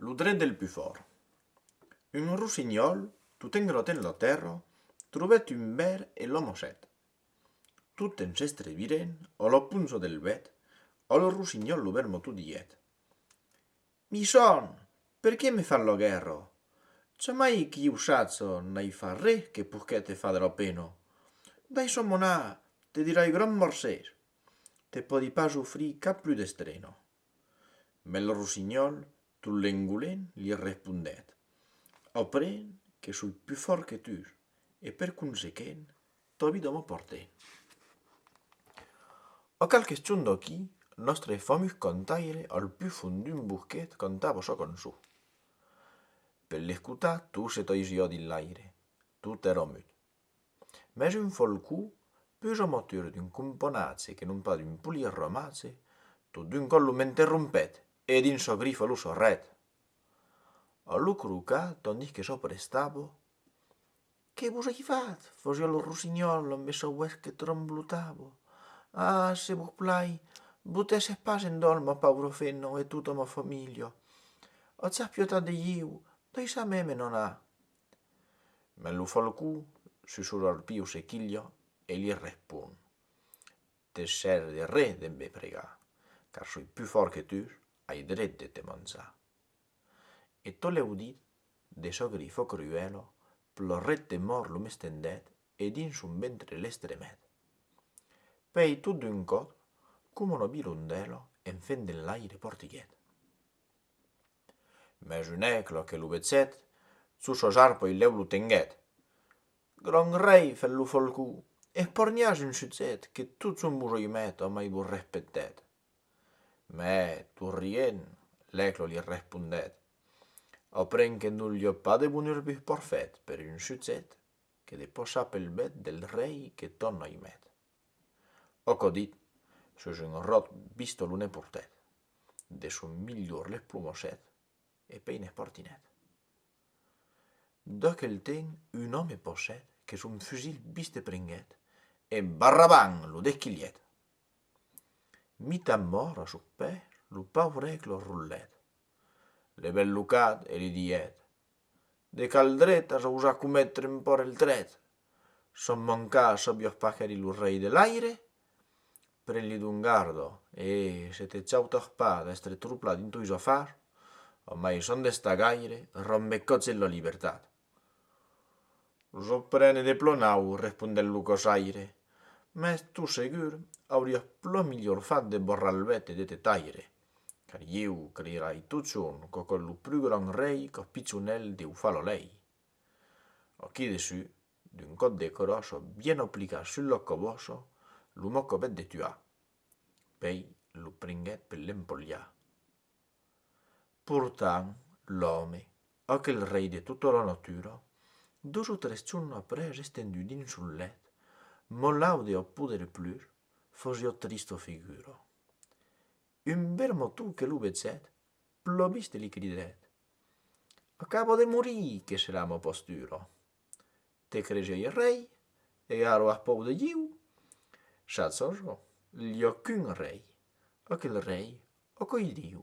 Lo dret del pus fòrt. Un rossinhòl, tot engròt en la tèrra, trobèt un bèr e l'amassèt. Totems s'estrevirèn a la ponza del bèt, al rossinhòl lo bèr moto diguèt, Mi son! Per qué me fas la guèrra? Jamai que ieu saja n'ai fach re que poguèt te far de la pena. Daissa'm anar, te dirai gran mercés. te pòdi pas ofrir cap plus d'estreno. Mès lo rossignòl, tot l'engolent, li respondèt, Aprèn que soi plus fòrt que tu e per consequent tòbi de me porter. A qualques chons d'aquí, nòstre famós cantaire al plus fond d'un bosquet cantava sa cançó. Per l'escotar, tot se taisiá dins l'aire, tot èra mut. Mès un folcó pus amatur d'un componatge que non pas d'un polier romatge, tot d'un còp lo m'interrompèt e dins sa grifa lo sorrèt. A lo crocar tandís que s'aprestava, Que vos ai fat? fasiá lo rossinhòl amb esa uèlh que tremblotava. Ah! se vos plai, botèsse pas en dòl ma paura fenna e tota ma familha. Atz apiutat de ieu, daissá-me me n'anar. Mas lo falcon susurrarpiu se quilha e li respon, Te sèrve de re de me pregar, car soi pus fòrt que tu, ai dret de te manjar. E tot l'audit de çò que li fò cruèla, plorèt de mòrt lo mestendet e dins son ventre l'estremèt. Pèi tot d'un còp, coma una virondèla, en fent d'enlaire portiguèt. Mès un aigle que lo vezèt, sus sos arpoi lèu lo tenguèt. Grand rei, fèt lo folcon, esporniatz un chuzèt que totson vos oimèt o mai vos respectèt. Mè, tot rient, l'aigle li respondèt, Ò pren que non l'i ò pas de bonur vos porfèt per un chuzèt que de pòsa pel bèt del rei que tòn oimèt. Òc dit, sus un ròt vistó lo nen portèt, de son milhor les plomosèt e pei n'es portinèt. D'aquel ten un òme posèt que son fusil viste prenguèt e barrabang! lo desquilhèt. Mitan mòrt a sos pès lo paurèc lo rulèt, le bèl lo cat e li dièt, De qual dret as ausat cometre un pòrt el trèt? Son mancar çò biòch pas qu'èri lo rei de l'aire? Pren-li d'un gardo, e, se te chautoch pas d'èstre troplat dins tois afars, ò mai son d'estar gaire, ròm me còtz en la libertat. J'ò prene de plò nau, respondèt lo cosaire, mès tu segur auriòch plò milhor fat de borrar-l bèth e de te taire. Car ieu crirai totjorn qu'òc ò lo plus grand rei qu'ò pichonèl deu far lo lei. Òqui dessu, d'un còp de cròç ò bien oplicar sul lòc cò boço, lo mocobèt de tuar. Pei lo pringuèt per l'empolhar. Portant, l'òme, òc el rei de tota la natura, dos o tres jorn après estendu dins son lèt, mò laude ò poder plus, fosiò trista figura. Un bermotou que lo vezèt, plobiste li cridèt, Acabo de morir que serà mo posturo! Te cregeie rei, e aro ath pòu de Diu? Sats o jo, lh'ò qu'un rei, aquel rei ò qu'oi Diu.